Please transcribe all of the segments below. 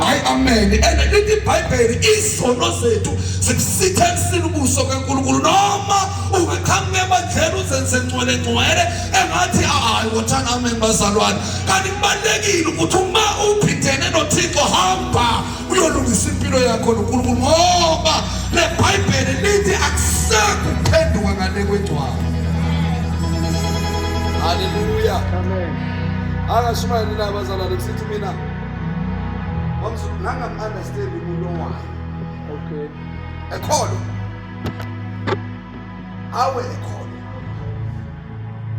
hayi amen and lithi ibhayibheli izono zethu zikusitha ekusini ubuso kankulunkulu noma ungaqhamuka ebandleni uzenze ngcwele ngcwele engathi hayi wothana amen bazalwane kanti kubalulekile ukuthi uma uphindene nothixo hamba uyolungisa impilo yakho nonkulunkulu ngoba le bhayibheli lithi akusekho ukuphenduka ngale kwengcwaba haleluya amen akashumayelile abazalwane kusithi mina wamsuku ngangam understand umuntu owayo okay ekholo awe ekholo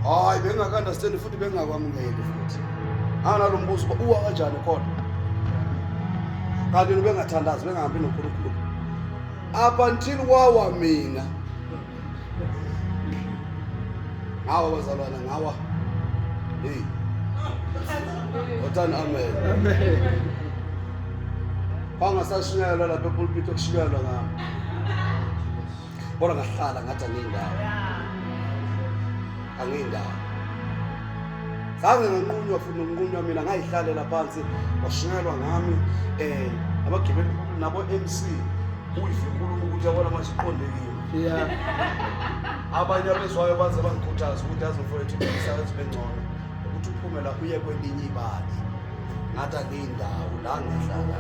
hayi bengaka understand futhi bengakwamukeli futhi analo mbuzo uwa kanjani khona kanti bengathandazi bengahambi noNkulunkulu up until wawa mina ngawa bazalwana ngawa hey wotani amen kwangasashunyayelwa lapha epulpiti okushunyayelwa ngami kodwa ngahlala ngathi angiyindawo angiyindawo zange nganqunywa futhi nokunqunywa mina ngayihlalela phansi washunyayelwa ngami um abagibeli nabo-m c uyive inkulumo ukuthi yabona manje iqondekile Yeah. Abanye abezwayo baze bangikhuthaza ukuthi azofowethu imisebenzi bengcono ukuthi uphume la uye kwelinye ibali ngathi akuyindawo la ngihlala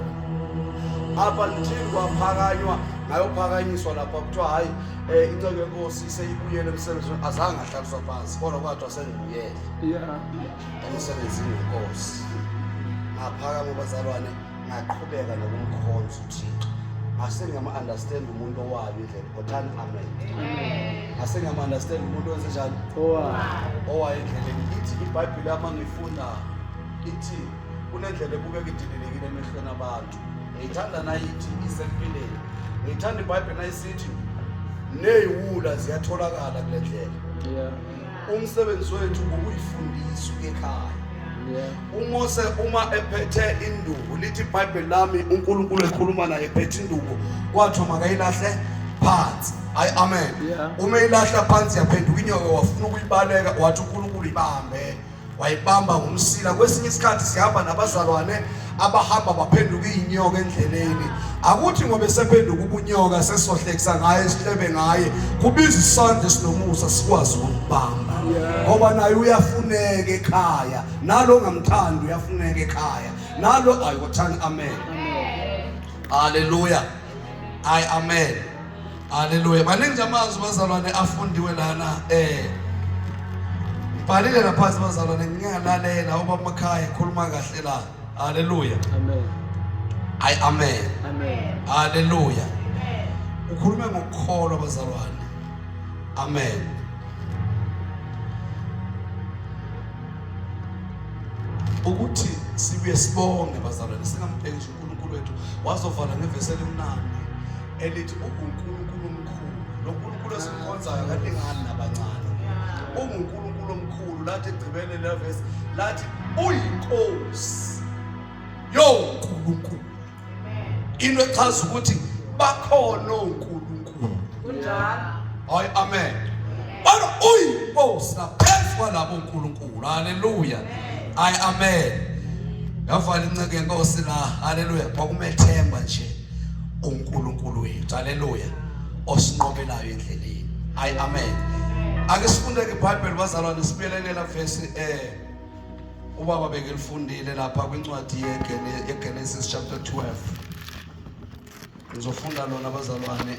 apha ngithini kwaphakanywa ngayophakanyiswa lapha kuthiwa hhayi um eh, inceke yenkosi seyibuyele emsebenzini azange ahlaliswa phansi kodwa kwathiwa sengibuyele emsebenzini wenkosi ngaphakama bazalwane ngaqhubeka nokumkhonza uthixo ngase ngiyama-understand umuntu owayo indlela kothani amen ngase ngiyama-understand umuntu wenze njani owayo endleleni ithi ibhayibhile yama ngifunda ithi kunendlela ebukeka idilelekile emehlweni abantu ngiyithanda nayithi isempileni ngiyithanda ibhayibhile nayisithi neyiwula ziyatholakala kule ndlela umsebenzi wethu ngokuyifundisa ekhaya umose uma ephethe induku lithi ibhayibheli lami unkulunkulu ekhuluma naye ephethe induku kwathiwa makayilahle phansi hayi amen uma ilahla phansi yaphenduka inyoka wafuna ukuyibaleka wathi unkulunkulu ibambe wayibamba ngomsila kwesinye isikhathi sihamba nabazalwane abahamba baphenduka izinyoka endleleni akuthi ngoba esephenduka ubunyoka sesohlekisa ngaye sihlebe ngaye kubiza isandla sinomusa sikwazi ukubamba ngoba naye uyafuneka ekhaya nalo ngamthandi uyafuneka ekhaya nalo ayothanda amen haleluya ayi amen Haleluya. Maningi amazwi bazalwane afundiwe lana eh Bhalile laphansi bazalwane ngingalalela ubaba makhaya ekhuluma kahle la. Haleluya. Amen. Ay amen. Amen. Haleluya. Amen. Ukhulume ngokukholwa bazalwane. Amen. Ukuthi sibuye sibonge bazalwane singamphekisi uNkulunkulu wethu wazovala ngevesi elimnandi elithi ungunkulunkulu omkhulu lo nkulunkulu esimkhonzayo kalingani nabancane ungunkulunkulu omkhulu lathi egcibele levesi lathi uyinkosi yonkulunkulu into echaza ukuthi bakhona onkulunkulu hayi amen kodwa uyinkosi naphezu kwalabo nkulunkulu haleluya hayi amen yavala inceke yenkosi la haleluya kwakumethemba nje uNkulunkulu wethu haleluya osinqobelayo endleleni ay amen ake sifunde ke iBhayibheli bazalwane sibelelela verse eh ubaba bekelifundile lapha kwincwadi yeGenesis chapter 12 ngizofunda lona bazalwane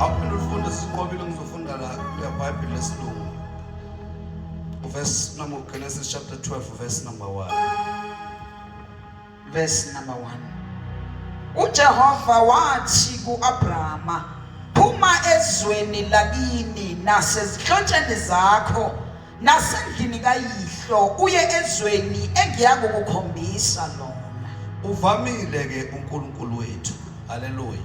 Aphinde ufunde siqobile ngizofunda la kuya Bible lesilungu. Verse number Genesis chapter 12 verse number 1. Verse number 1. UJehova wathi kuAbrahama phuma ezweni lakini nasezihlotsheni zakho Nasendlini kayihlo uye ezweni engiya kukukhombisa lona. Uvamile ke uNkulunkulu wethu. Haleluya.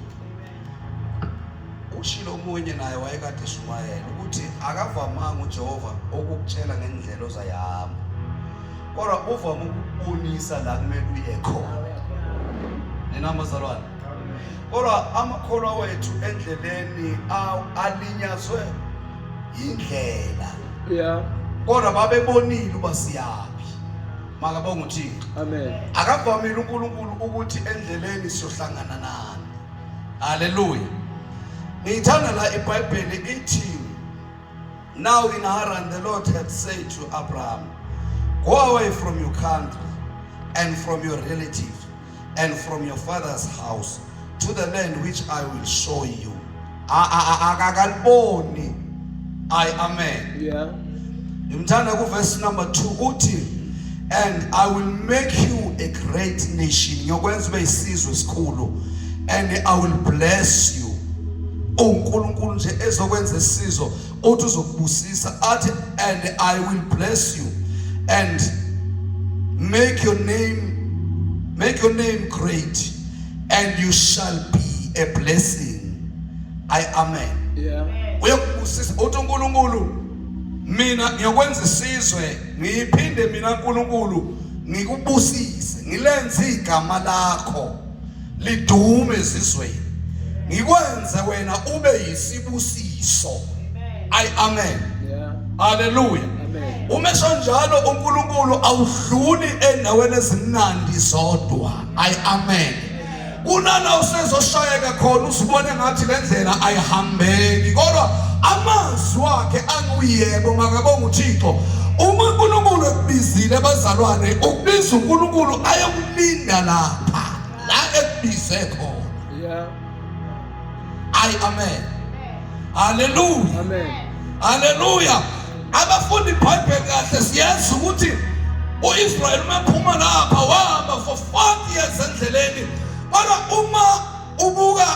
Ushilo omunye naye wayekade eshumayela ukuthi akavamanga uJehova ukukutshela ngendlela ozayihamba. Kodwa uvama ukubonisa la kumele uye khona. Nina mazalwane. Kodwa amakholwa wethu endleleni alinyazwe yindlela yeah kodwa babebonile uba siyaphi makabonga uthixo amen akavamile unkulunkulu ukuthi endleleni siyohlangana nani haleluya ngiyithanda la ibhayibheli ithi now in haran the lord had said to abraham go away from your country and from your relatives and from your father's house to the land which I will show you. Akakaliboni. I amen. Yeah. Ngimthanda ku verse number 2 uthi and I will make you a great nation. Ngiyokwenza ube isizwe esikhulu and I will bless you. uNkulunkulu nje ezokwenza isizo uthi uzokubusisa athi and i will bless you and make your name make your name great and you shall be a blessing i amen yeah. uyokubusisa uthi unkulunkulu mina ngiyokwenza isizwe ngiphinde mina unkulunkulu ngikubusise ngilenze igama lakho lidume ezizweni ngikwenze wena ube yisibusiso ay amen haleluya uma esonjalo uNkulunkulu awudluli endaweni ezimnandi zodwa ay amen kunana usezoshayeka khona usibone ngathi le ndlela ayihambeki kodwa amazwi wakhe anguyebo makabonga uThixo uma uNkulunkulu ekubizile bazalwane ukubiza uNkulunkulu ayokulinda lapha la ekubize khona yeah ay amen haleluya amen haleluya abafundi ibhayibheli kahle siyazi ukuthi uIsrael umephuma lapha wahamba for 40 years endleleni kodwa uma ubuka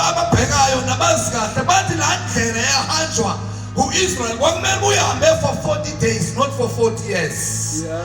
ababhekayo nabazi kahle bathi la ndlela yahanjwa uIsrael kwakumele uyihambe for 40 days not for 40 years yeah.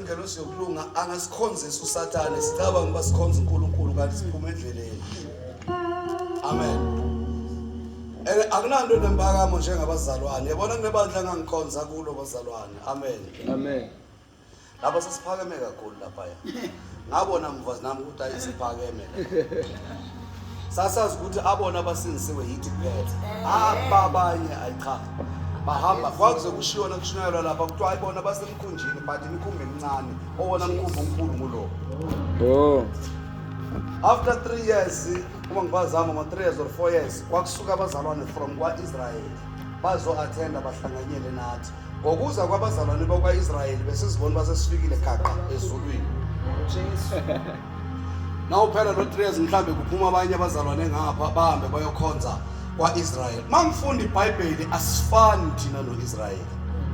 Ingelosi yokulunga angasikhonzisa uSathane sicabanga ukuba sikhonza uNkulunkulu kanti siphuma endleleni. Amen. Ene akunanto nembakamo njengabazalwane. Yabona kunebandla engangikhonza kulo bazalwane. Amen. Amen. Lapha sesiphakeme kakhulu lapha. Ngabona mfazi nami ukuthi ayisiphakeme. sasazi ukuthi abona abasindisiwe yithi kuphela ababanye ayicha bahamba kwakuze kushiyona kushunyayelwa lapha kuthiwa ayibona basemkhunjini but imikhumbi emincane owona mkhumbi omkhulu ngulowo oh. after three years uma ngibazama ngo-three years or four years kwakusuka abazalwane from kwa-israyeli bazo-athenda bahlanganyele nathi Ngokuza kwabazalwane bakwa-Israyeli besizibona basesifikile gaqa ezulwini. Nawuphela lo 3 years mhlambe kuphuma abanye abazalwane ngapha bahambe bayokhonza kwa-Israyeli. Mangifunda iBhayibheli asifani thina no-Israyeli.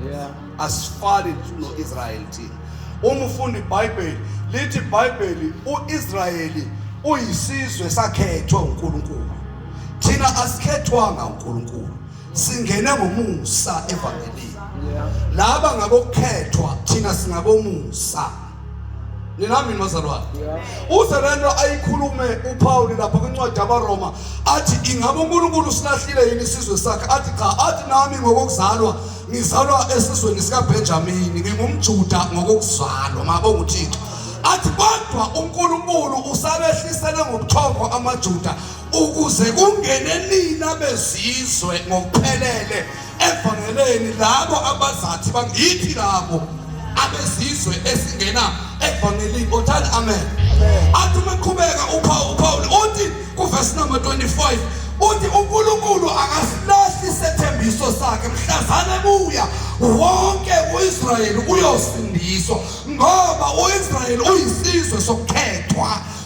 Yeah. Asifani no-Israyeli thina. Uma ufunda iBhayibheli lithi iBhayibheli uIsrayeli uyisizwe sakhethwa uNkulunkulu. Thina asikhethwanga uNkulunkulu. singene ngomusa evangelini laba ngabokhethwa thina singabomusa ninami nozalwane uze lento ayikhulume uPaul lapha kwincwadi yabaRoma athi ingabe uNkulunkulu silahlile yini isizwe sakhe athi cha athi nami ngokuzalwa ngizalwa esizweni sikaBenjamin ngingumJuda ngokuzalwa mabo nguThixo athi kodwa uNkulunkulu usabehlisele ngobuthongo amaJuda ukuze kungene nina bezizwe ngokuphelele evangeleni labo abazathi bangithi labo abezizwe esingena evangelini othani amen athi uma qhubeka uphawu uphawu uthi kuvesi number 25 uthi uNkulunkulu akasilahli isethembiso sakhe mhlazane buya wonke uIsrayeli uyosindiswa ngoba uIsrayeli uyisizwe sokukhethwa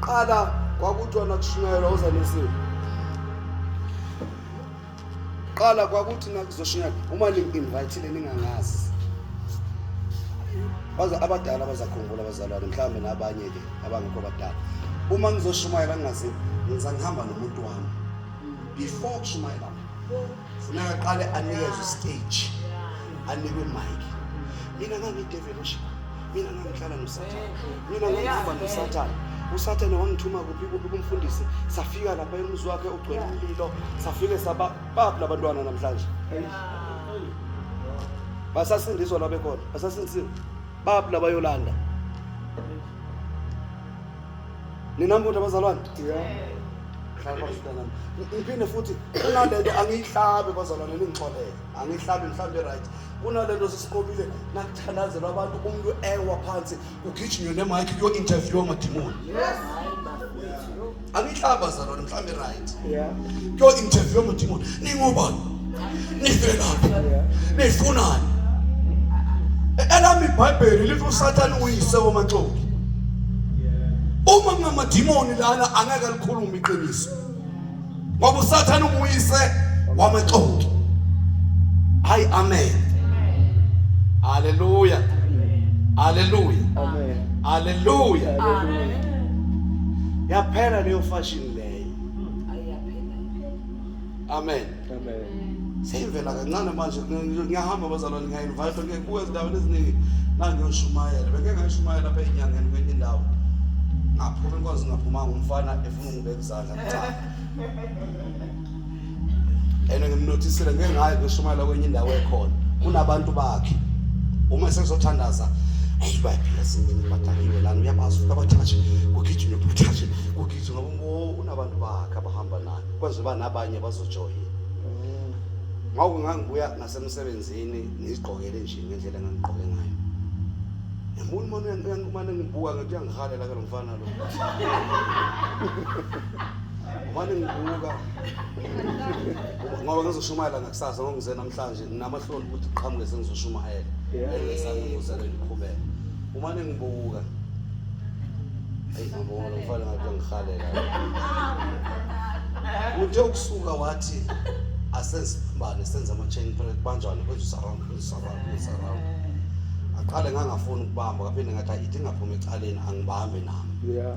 Qala kwakuthiwa nakushunyayelwa uzanisile. Qala kwakuthi nakuzoshunyayelwa uma ningi-invayithile ningangazi. Baza abadala bazakhumbula abazalwane mhlawumbe nabanye ke abangekho abadala. Uma ngizoshumayela ngingazi ngizangihamba nomuntu wami. Before kushumayela funeka aqale anikezwe istage anikwe imike mina ngangideveli ushika mina ngangihlala nosathane mina ngangihamba nosathane usathane wangithuma kuphi kuphi kumfundisi safika lapha emuzi wakhe ugcwele umlilo safike saba babu labantwana namhlanje basasindiswa labekhona basasindisiwe babu labayolanda Ninambuthi abazalwane? Ngiphinde futhi kunalento angiyihlabi bazalwane ningixolele. Angiyihlabi mhlawumbe right. Kunalento sisiqobile nakuthalazelwa abantu umuntu ewa phansi kugijinywe nemic kuyo interview amadimoni. Yes. Angiyihlabi bazalwane. Mhlambe right. Yeah. Yo interview ngudimoni. Ningobani? Nivelaphi? Nifunani? Elami iBhayibheli lithi uSathane uyise womaxoki. Uma kungamadimoni lana angeke likhulume iqiniso. Ngoba uSathane unguyise wamaxoki. Hayi amen. Hallelujah. Hallelujah. Amen. Hallelujah. Amen. yaphela leyo fashion leyo amen seyivela kancane manje ngiyahamba bazalwane ngiya-invite ngiyekubuka ezindaweni eziningi nangiyoshumayela bengeke ngayishumayela apha enyangeni kwenye indawo ngaphuma inkonzo ngaphumanga umfana efuna ungibeka izandla and ngimnothisile ngeke ngaye ngishumayela kwenye indawo ekhona kunabantu bakhe uma sesizothandaza eyi bayaphila singene badakiwe lana uyabazi ukuthi abathathe kugijime buthathe kugijime ngoba unabantu bakhe abahamba naye kwenza uba nabanye bazojoyina ngawuke ngangibuya nasemsebenzini ngizigqokele nje ngendlela engangigqoke ngayo yambona umane uyangibuka ngathi uyangihalela ke lo mfana lo Wani ngibuka ngoba ngizoshumayela ngakusasa ngoba ngize namhlanje nginamahloni ukuthi qhamuke sengizoshumayela engesami ngizele ngiqhubeke uma ningibuka ayi ngibona ngifale ngathi ngihalela uthe ukusuka wathi asesibane senza ama-chain break banjani kwenza usaround kwenza usaround kwenza usaround aqale ngangafuni ukubamba kaphinde ngathi ayithi ngaphuma ecaleni angibambe nami yeah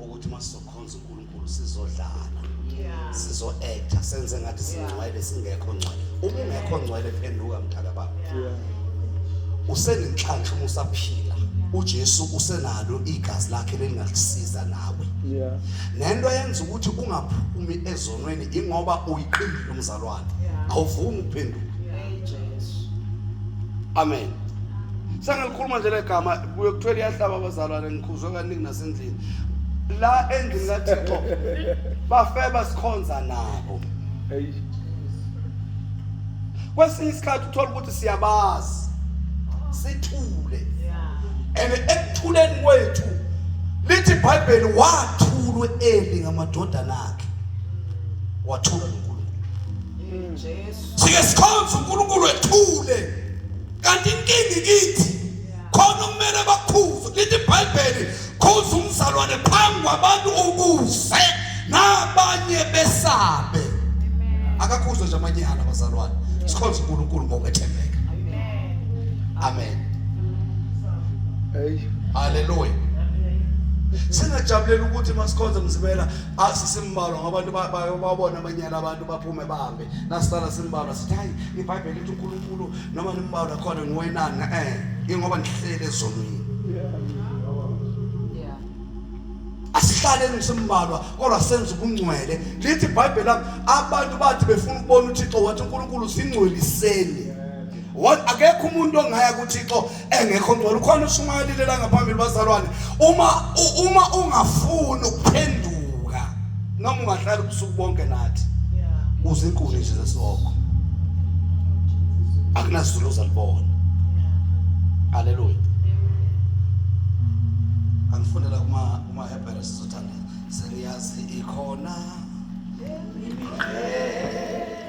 ukuthi uma sizokhonza uNkulunkulu sizodlala sizo actor senze ngathi singcwele singekho ngcwele uma ungekho ngcwele phenduka mdala baba usenenhlanhla uma usaphila uJesu usenalo igazi lakhe lelingasiza nawe yeah nento yenza ukuthi ungaphumi ezonweni ingoba uyiqindile umzalwane awuvumi ukuphenduka amen sengilikhuluma nje legama kuyokuthiwa liyahlaba abazalwane ngikhuzwe kaningi endlini la endlini kathixo bafeba sikhonza nabo kwesinye isikhathi uthola ukuthi siyabazi sithule and ekuthuleni kwethu lithi ibhayibheli wathulwe eli ngamadodana akhe wathula noNkulunkulu Jesu sike sikhonza uNkulunkulu ethule kanti inkingi kithi khona okumele bakhuze lithi ibhayibheli khuza umzalwane phambi kwabantu ukuze nabanye besabe akakhuzwe nje amanye ala bazalwane sikhonza unkulunkulu ngokwethembeka amen haleluya singajabulela ukuthi masikhonze mzibela asisimbalwa ngabantu babona amanyala abantu baphume bahambe nasala simbalwa sithi hayi ibhayibheli lithi uNkulunkulu noma nimbawu lakhona ngiwenani eh ingoba ngihlele ezonweni asihlale nisimbalwa kodwa senza ubungcwele lithi ibhayibheli lami abantu bathi befuna ukubona uthixo wathi unkulunkulu singcweliseni akekho umuntu ongaya kuthixo engekho ngcono khona ushumayelile la ngaphambili bazalwane uma uma ungafuni ukuphenduka noma ungahlala ubusuku bonke nathi kuze inkuni nje zesoko akunazulu ozalibona haleluya angifunela uma uma hebere sizothanda seniyazi ikhona yeah.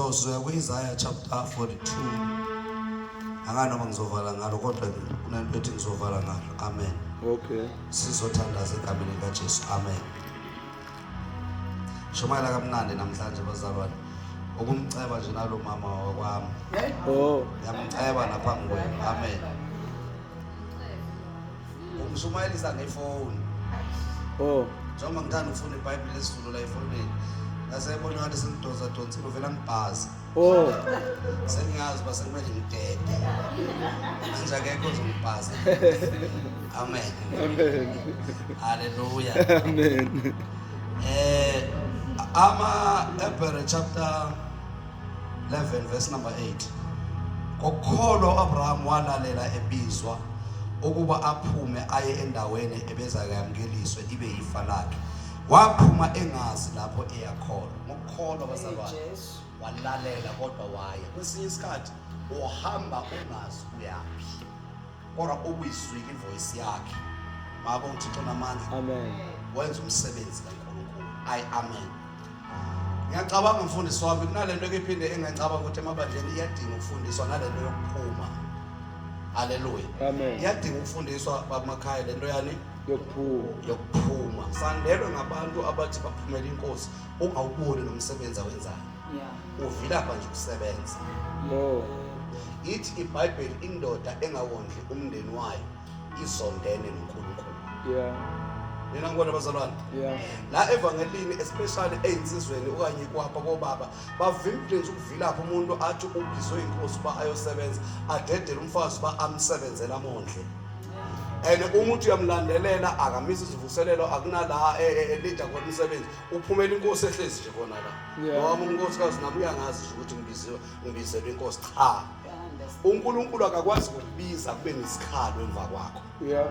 sizosuka kwi-isaya chapter 42 akanoma ngizovala ngalo kodwa kunento ethi ngizovala ngalo amen okay sizothandaza egameni likajesu amen shumayela kamnandi namhlanje bazalwane ukumceba nje nalo mama wakwami oh yamceba naphambi kwenu amen umshumayelisa ngefoni oh njengoba ngithanda ukufunda ibhayibhile lesizulu la efonini ngasebona ngathi sengidoza donsile uvela ngibhazi Oh. Sengazi basekumele ngidede. Manje akekho ozongibhaza. Amen. Amen. Haleluya. Amen. Eh ama Hebrew chapter 11 verse number 8. Ngokukholwa uAbraham walalela ebizwa ukuba aphume aye endaweni ebeza kuyamkeliswe ibe yifa lakhe. Waphuma engazi lapho eyakhona. Ngokukholwa bazalwane. walalela kodwa waya kwesinye isikhathi uhamba ungazi uyaphi kodwa ubuyizwile ivoice yakhe ngakho uthixo namandla amen wenza umsebenzi kankulunkulu i amen ngiyacabanga mfundisi wami kunalento ekiphinde engangicabanga ukuthi emabandleni iyadinga ukufundiswa nalento yokuphuma haleluya amen iyadinga ukufundiswa bamakhaya lento yani yokuphuma yokuphuma sandelwe ngabantu abathi baphumela inkosi ungawuboni nomsebenzi awenzayo yeah. uvilapha nje ukusebenza oh. ithi ibhayibheli indoda engawondli umndeni wayo izondene nonkulunkulu yeah. nina ngibona abazalwane yeah. la evangelini especially eyinsizweni okanye kwapha kobaba bavimbile nje ukuvilapha umuntu athi ubizwe inkosi uba ayosebenza adedele umfazi uba amsebenzele amondle and uma uthi uyamlandelela akamisa izivuselelo akunala elida e, e, khona umsebenzi uphumela inkosi ehlezi nje kona la noma unkosikazi nami uyangazi nje ukuthi ngibiziwe ngibizelwe inkosi cha uNkulunkulu akakwazi ukubiza kube nesikhalo emva kwakho yeah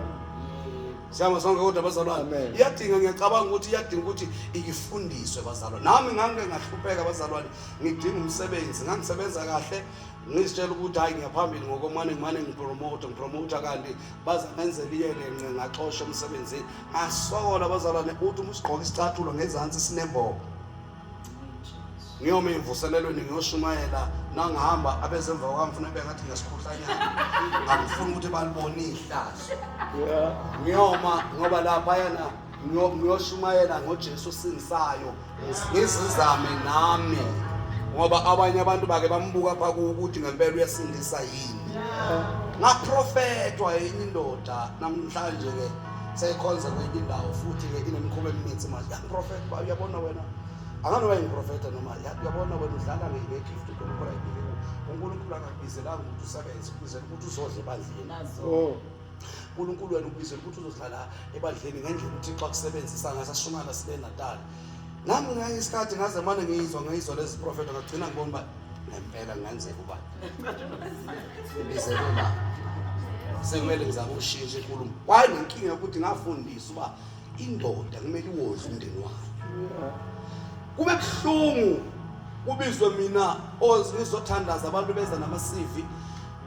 Siyama sonke kodwa bazalwane. Iyadinga ngiyacabanga ukuthi iyadinga ukuthi ikifundiswe bazalwane. Nami ngangike ngahlupheka bazalwane. Ngidinga umsebenzi, ngangisebenza kahle. Ngizitshela ukuthi hayi ngiyaphambili ngokomane ngimane ngipromote, ngipromote kanti baza ngenzela iyele nce ngaxosha umsebenzini. Asokola abazalwane uthi uma usigqoka isicathulo ngezansi sinembobo. Ngiyoma imvuselelweni ngiyoshumayela nangihamba abezemva kwami ngifuna beka ngathi ngesikhohlanyana. Angifuni ukuthi balibone ihlazo. Ngiyoma ngoba lapha yana ngiyoshumayela ngoJesu singisayo. ngizizame nami ngoba abanye abantu bake bambuka pha ukuthi ngempela uyasindisa yini ngaprofethwa yini indoda namhlanje ke seyikhonza kwenye indawo futhi ke inemikhuba eminingi manje yaprofetha ba uyabona wena akanoba yimprofetha noma uyabona wena udlala ngegift uNkulunkulu ayibike uNkulunkulu akakubizelanga ukuthi usebenze ubizela ukuthi uzodle ebandleni uNkulunkulu wena ukubizela ukuthi uzohlala ebandleni ngendlela uThixo akusebenzisa ngayo sashumayela sibe Natal nami ngeke isikhathi ngaze mane ngiyizwa ngiyizwa lezi profeta ngagcina ngibona uba ngempela kungenzeka uba ibizelwe la sekumele ngizama ukushintsha inkulumo waye nenkinga yokuthi ngafundisa uba indoda kumele iwondle umndeni wayo kube buhlungu kubizwe mina ozizothandaza abantu beza nama-cv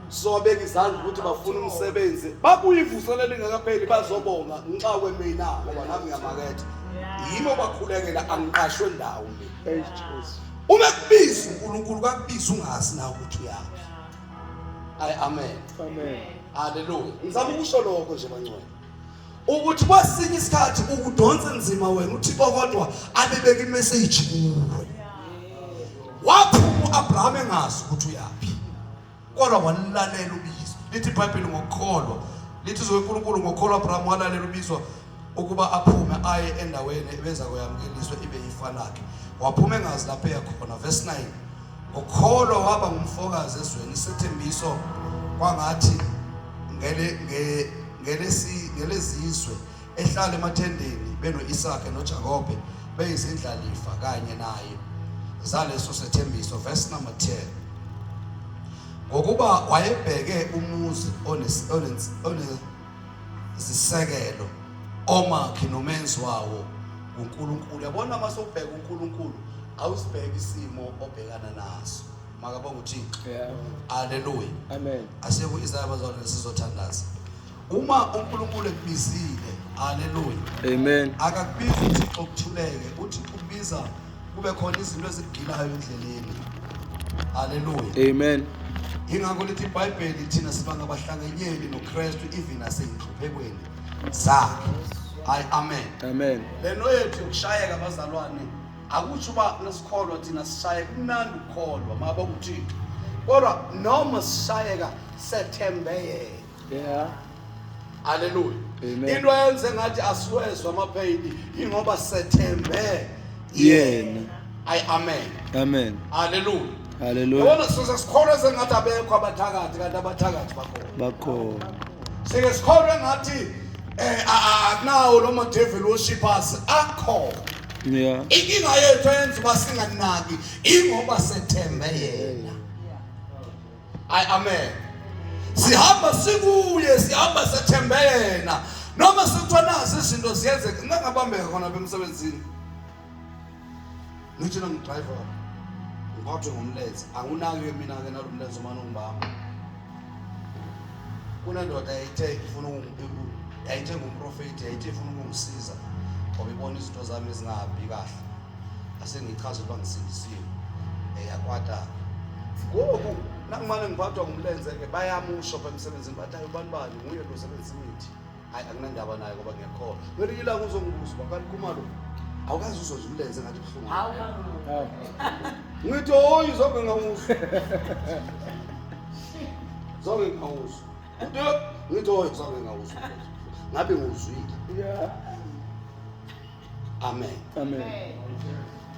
sizowabeka izandla ukuthi bafuna umsebenzi babuye ivuselelo ingakapheli bazobonga ngenxa kwemina ngoba nami ngiyamaketha yimi obakhulekela angiqashwe ndawo uma kubiza unkulunkulu kakubiza ungazi na ukuthi uyaphi ayi amen haleluya ngizama ukusho lokho nje bangcwele ukuthi kwesinye isikhathi ukudonsa nzima wena uthixo kodwa abebeka imeseji kuwe waphuma u-abraham engazi ukuthi uyaphi kodwa walalela ubizo lithi ibhayibheli ngokukholwa lithi izwe unkulunkulu ngokukholwa abraham walalela ubizo ukuba aphume aye endaweni ebeza koyamukeliswa ibe yifa lakhe waphuma engazi lapho eyakhona verse 9 ngokukholwa waba ngumfokazi ezweni isethembiso kwangathi ngele ngelezizwe ehlala emathendeni beno-isake nojakobe beyizindlalifa kanye naye zaleso sethembiso verse number 10 ngokuba wayebheke umuzi onezisekelo omakhi nomenzi wawo uNkulunkulu yabona uma sobheka uNkulunkulu awusibheki isimo obhekana naso makabonga uthixo yeah. aleluya amen asekho izaya bazalwane nesizothandaza uma unkulunkulu ekubizile aleluya amen akakubizi uthixo kuthuleke uthixo ukubiza kube khona izinto ezikugilayo endleleni aleluya amen ingakho lithi ibhayibheli thina siba ngabahlangenyeli nokristu even aseyinhluphekweni zakhe hayi amen amen lento yethu yokushayeka bazalwane akusho uba nesikholwa thina sishaye kumnandi ukukholwa maba kuthixo kodwa noma sishayeka sethembeyeke yeah haleluya into yenze ngathi asiwezwa amaphayini ingoba sethembe yena ayi amen amen haleluya haleluya yona size sikholwe sengathi abekho abathakathi kanti abathakathi bakhona bakhona sike sikholwe ngathi eh akunawo lo madevil worship us akhona yeah inkinga yethu yenza uba singanaki ingoba sethembe yena ay amen sihamba sikuye sihamba sethembe yena noma sekuthiwa nazi izinto ziyenzeka ngingabambeka khona bemsebenzini ngithi na ngidriver ngiphathwe ngomlenze angunaki-ke mina-ke nalo mlenze umane ungibamba kunendoda yayithe ifuna yayithe ngumprofethi yayithe ifuna ukungisiza ngoba ibona izinto zami ezingahambi kahle asengichaza ukuba ngisindisiwe eyakwada ngoku nangimane ngiphathwa ngumlenze-ke bayamusho pha emsebenzini bathi ayi ubani bani nguye lo sebenzisa imithi hayi anginandaba naye ngoba ngiyakhola kwelinye ilanga uzongibuza uba kanti kumalo awukazi uzoze umlenze ngathi buhlungu ngithi oyi zonke ngawuzwa zonke ngawuzwa ngithi oyi zonke ngawuzwa ngabe nguzwile amen amen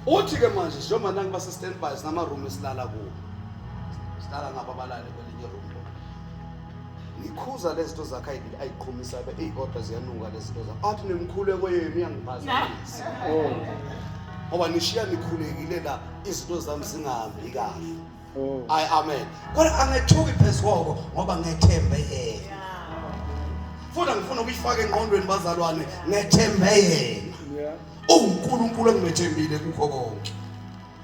uthi ke manje njengoba nangu base standby sinama room esilala kuwo sidala ngabo abalale kwelinye room ngikhuza lezinto zakhe ayibili ayiqhumisa be ey kodwa ziyanuka lezinto zakhe athi nemkhuleko yenu iyangiphazamisa oh ngoba nishiya nikhulekile la izinto zami zingahambi kahle Oh. Ay amen. Kodwa angethuki phezukoko ngoba ngethembe yena. Futhi ngifuna ukuyifaka engqondweni bazalwane ngethembe yena. Yeah. UNkulunkulu engimethembile kukho konke.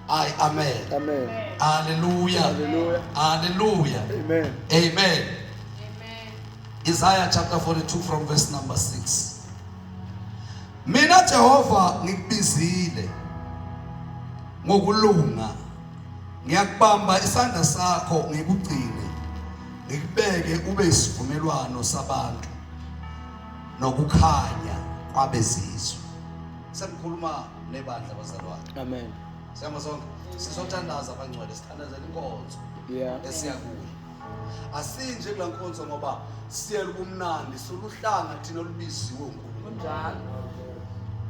Ay amen. Amen. Hallelujah. Hallelujah. Hallelujah. Amen. Amen. Amen. Isaiah chapter 42 from verse number 6. Mina Jehova ngikubizile ngokulunga ngiyakubamba isandla sakho ngikugcine ngikubeke ube isivumelwano sabantu nokukhanya kwabezizwe sengikhuluma nebandla bazalwane amen siyama sonke sizothandaza abangcwele sithandazela inkonzo yeah esiya kuyo asinje kula nkonzo ngoba siyela ubumnandi soluhlanga thina olubiziwe uNkulunkulu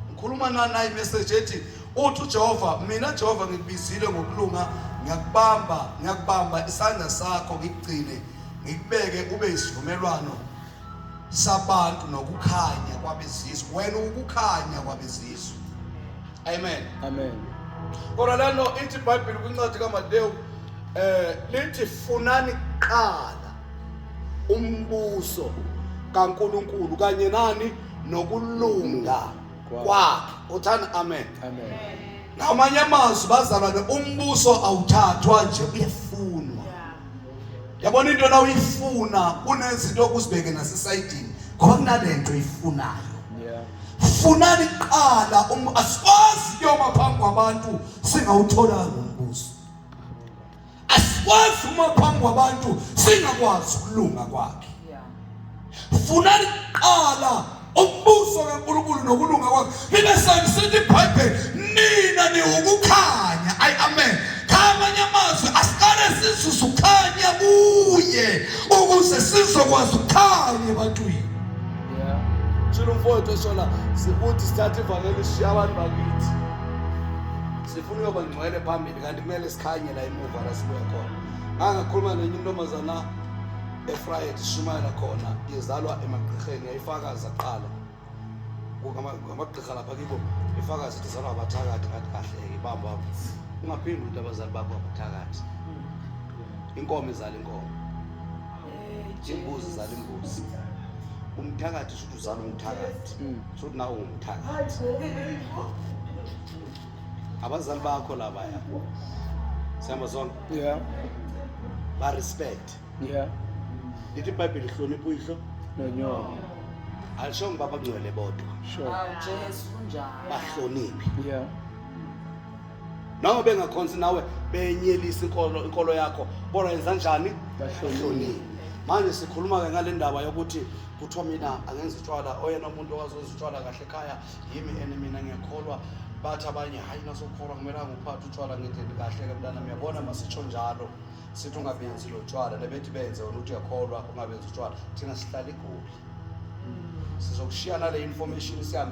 ngikhuluma nani nayi message ethi uthi uJehova mina Jehova ngikubizile ngokulunga ngiyakubamba ngiyakubamba isandla sakho ngikugcine ngikubeke ube isivumelwano sabantu nokukhanya kwabezizwe wena ukukhanya kwabezizwe amen amen kodwa lano ithi ibhayibheli kwincwadi kamatewu eh lithi funani kuqala umbuso kaNkuluNkulu kanye nani nokulunga kwakhe uthani amen amen ngamanye amazwi bazalwane umbuso awuthathwa nje uyefunwa yabona into la uyifuna kunezinto okuzibeke nasesayidini ngoba kunalento oyifunayo funani kuqala um, asikwazi kuyoma phambi kwabantu singawutholanga umbuso asikwazi uma phambi kwabantu singakwazi ukulunga kwakhe funa liqala umbuso kaNkulunkulu nokulunga kwakhe libe sangisithi iBhayibheli nina niwukukhanya ayi amen khamanye amazwi asiqale sizuze ukhanya kuye ukuze sizokwazi ukukhanya ebantwini shilo mfowethu eshola sikuthi sithathe ivangeli sishiya abantu bakithi sifuna uyoba ngcwele phambili kanti kumele sikhanye la emuva la sibuya khona ngangakhuluma nenye intombazana eFryhead ishumayela khona izalwa emagqirheni yayifakaza kuqala ngamagqirha lapha kibo ifakaza ukuthi izalwa abathakathi ngathi kahle-ke bambo wabo ungaphindi ukuthi abazali bakho abathakathi inkomo izala inkomo imbuzi izala imbuzi umthakathi shuthi uzala umthakathi hmm. shuthi nawe ungumthakathi abazali bakho labaya sihamba zonke yeah. barespect yeah lithi ibhayibheli hlonipha uyihlo nonyoko alishongo uba bangcwele bodwa sure Hawu Jesu kunjalo. bahloniphe yeah noma bengakhonzi nawe benyelisa inkolo inkolo yakho kodwa yenza njani Bahloniphe. manje sikhuluma-ke ngale ndaba yokuthi kuthiwa mina angenza utshwala oyena muntu owazenza utshwala kahle ekhaya yimi and mina ngiyakholwa bathi abanye hhayi nasokholwa kumele anguphathe utshwala ngendlela kahle-ke mntana miyabona masitsho njalo sithi ungabenzi lo tshwala lebethi benze wena uthi uyakholwa ungabenzi utshwala thina sihlala igoli sizokushiyana le information sihambe